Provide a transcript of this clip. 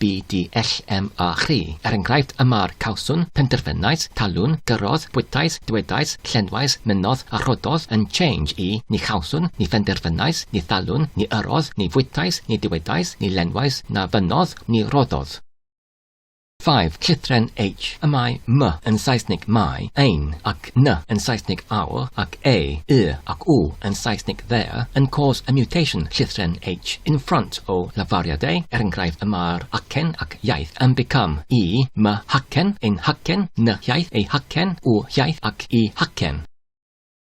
BDLM a chi. Er enghraifft, y mar, cawswn, penderfynais, talwn, gyrrodd, bwytais, dywedais, llenwais, mynnodd a rhoddodd, yn change i, ni chawswn, ni phenderfynais, ni thalwn, ni yrrodd, ni fwytais, ni dywedais, ni lenwais, na fynnodd, ni roddodd. 5. Llythren H. Y mae 'my' yn Saesneg 'my', ein, a ac n yn Saesneg our ac a, y ac u yn Saesneg their yn cause a mutation llithren h in front o lafariadau, er enghraifft y mae'r acen ac iaith yn become i, my hacen, ein hacen, ny hiaith, ei hacen, u hiaith ac i hacen.